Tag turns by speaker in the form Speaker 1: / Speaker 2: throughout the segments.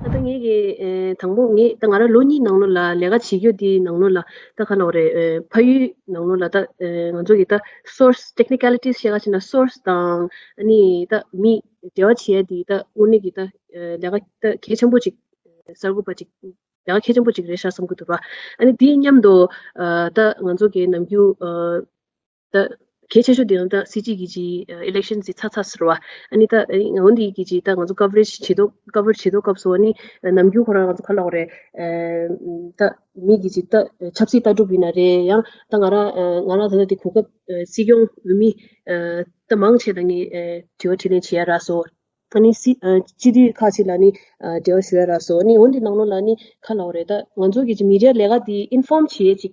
Speaker 1: ཨ་ད་ངེད་ཀྱི་དང་པོ་ངེད་ད་ང་ར་ལོ་གཉིས་ནང་ལོ་ལ་ལས་ཀ་བྱེད་རྒྱུ་དེའི་ནང་ལོ་ལ་ད་ཁ་ནོག་རེད་ཕ་ཡུལ་ནང་ལོ་ལ་ད་ང་ཚོ་གི་ད source technicalities བཤད་ག་བྱེད་ན source དང་ཨ་ནི་ད་མི་འབྲེལ་བ་བྱེད་དེ་ད་དངོས་གནས་ཀྱི་ད་ལས་ཀ་ད་གལ་ཆེན་པོ་ཅིག་གསར་འགོད་པ་ཅིག་ལས་ཀ་གལ་ཆེན་པོ་ཅིག་རེད་ཤག་བསམ་གི་འདུག་པ་ཨ་ནི་དེའི་མཉམ་དུ་ད་ང་ཚོ་གི་ནམ་རྒྱུན། ད་གལ་ཆེ་ཤོས་དེ་ཡང་ད་སྲིད་སྤྱི་གི་ཇི election ཇི་ཚ་ཚ་ཟེར་བ་ཨཱ་ནི་ད་འོན་དེ་གི་ཇི་ད་ང་ཚོ coverage བྱེད་དོ cover བྱེད་དོ་སྐབས་སུ་ཨཱ་ནི་ནམ་རྒྱུན་ཁོ་རང་ང་ཚོ་ཁ་ལོག་རེད། ད་མི་གི་ཇི་ད་ཆབ་སྲིད་ལྟ་གྲུབ་ཡིན་ན་རེད་ཡང་ད་ང་རང་ང་རང་ད་ད་དེ་གོ་སྐབས་སྲིད་སྐྱོང་འོས་མི་ད་མང་ཆེ་ད་ནི་དྲི་བ་དྲིས་ལན་བྱེད་ཡ་རགས་སོ། ཨཱ་ནི་སྲིད་སྤྱི་འཐུས་ཁག་ཅིག་ལ་ནི་དྲི་བ་ཞུ་ཡ་རགས་སོ་ཨཱ་ནི་འོན་དེ་ནང་ལོགས་ལ་ནི་ཁ་ལོག་རེད་ད་ང་ཚོ་གི་ཇི་མི་རེ་ལས་ཀ་དེ inform བྱེད་ཡས་ཅིག་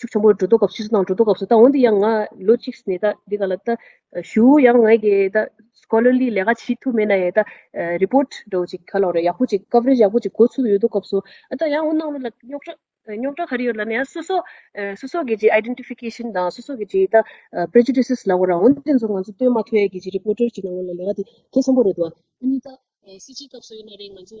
Speaker 1: ཕྱུག་ཆེན་པོ་འགྲོ་འདུག་སྐབས་སུ་ཤི་སོང་དང་འགྲོ་འདུག་སྐབས་སུ་ད་འོན་ཏེ་ཡང་ང་ལོ་གཅིག་ནས་ད་འདི་ག་ལ་ད་བཞུགས་ཡང་ངའི་གི་ད Scholarly ལས་ཀ་བྱེད་ཐུབ་མེད་ན་ཡང་ད Report འགྲོ་ཅིག་ག་ལ་རེད་ཡག་པོ་ཅིག Coverage ཡག་པོ་ཅིག་གོ་ཚུལ་ཡོད་འདུག་སྐབས་སུ་ད་ཡང་འོ་གནང་རོགས་ལ་རྙོག་དྲ་རྙོག་དྲ་ག་རེ་ཡོད་ལ་ནི་ཡང་སོ་སོ་སོ་སོ་གི་ཇི Identification དང་སོ་སོ་གི་ཇི་ད Prejudices ལ་ངོ་རང་འོན་ཏེ་ཚོ་ང་ཚོ་བསྟོད་མ་ཐོས་ཡས་ཀྱི་ཇི Reporter ཀྱི་ནང་ངོ་ལ་ལས་ཀ་དེ་གལ་ཆེན་པོ་རེད་འདུག་ཨ་ནི་ད་སྲིད་སྤྱིའི་སྐབས་སུ་ཡིན་ན་རེད་ང་ཚོ་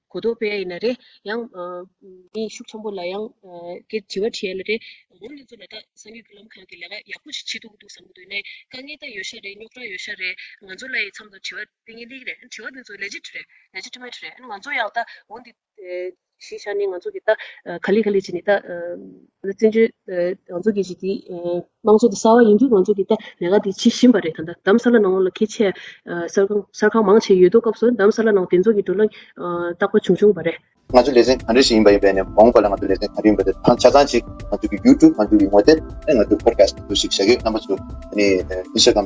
Speaker 1: གོ་ལྡོག་པས་ཡིན་ན་རེ། ཡང། མིའི་ཤུགས་ཆེན་པོ་ལ་ཡང། དེ་བྱི་བ་བྱས་ལ་རེ། འོ་ལེ་ཚོ་ལ་དྭགས་ས་མྱུལ་བུ་ལམ་ཁང་གི་ལས་ཀ་ཡག་པོ་ཞིག་བྱེད་འདུག་འདུག་བསམ་གྱི་འདུག་ནས་དཀའ་ངལ་དང་ཡོད་ཤག་རེད་རྙོག་དྲ་ཡོད་ཤག་རེད་ང་ཚོ་ལ་ཡི་འཚམ་དང་དྲི་བ་དེ་ངའི་ལིག་རེད་དྲི་བ་དེ་ཚོ་ལས་ཇི་ཏྲི་རེད་ལས་ཇི་ཏྲི་མ་ཏྲི་རེད་ང་ཚོ་ཡང་དྭགས་འོ་འདི། གཞི་ཤག་ནི་ང་ཚོ་གི་དྭགས། ག་ལི་ག་ལི་བྱས་ནས་དྭགས། བཙན་བྱོལ། ང་ཚོ་གི་གཞི་དེ། དམངས་གཙོ་དེ་གསར་བ་ཡིན་དུས་ང་ཚོ་དེ་ལྟའི་ལས་ཀ་དེ་བྱེད་བཞིན་པ་རེད་ད་ལྟ་འདམ་ས་ལ་ནང་ལོགས་ལ་ཁེ་ཆེ། གསར་ཁང་གསར་ཁང་མང་ཆེ་ཡོད་དོ་སྐབས་སུ་འདམ་ས་ལ་ནང་དེ་ཚོ་གི་འགྲོ་ལ་རྟག་པ་བྱུང་བྱུང་བ་རེད། ང་ཚོ་ལེ་ཚན་གང་རེ་ཞིག་
Speaker 2: ཡིན་པ་ཡིན་པའི་ནས་མོང་པ་ལ་ང་ཚོ་ལེ་ཚན་གང་རེ་ཡིན་པ་དེ་ཐང་ཆ་ཚང་ཅིག་ང་ཚོ་གི YouTube ང་ཚོ་གི་ངོ་དེབ་ནས་ང་ཚོ Podcast ཞིག་བྱ་གི་རྣམ་པ་ཚོ་ནི Instagram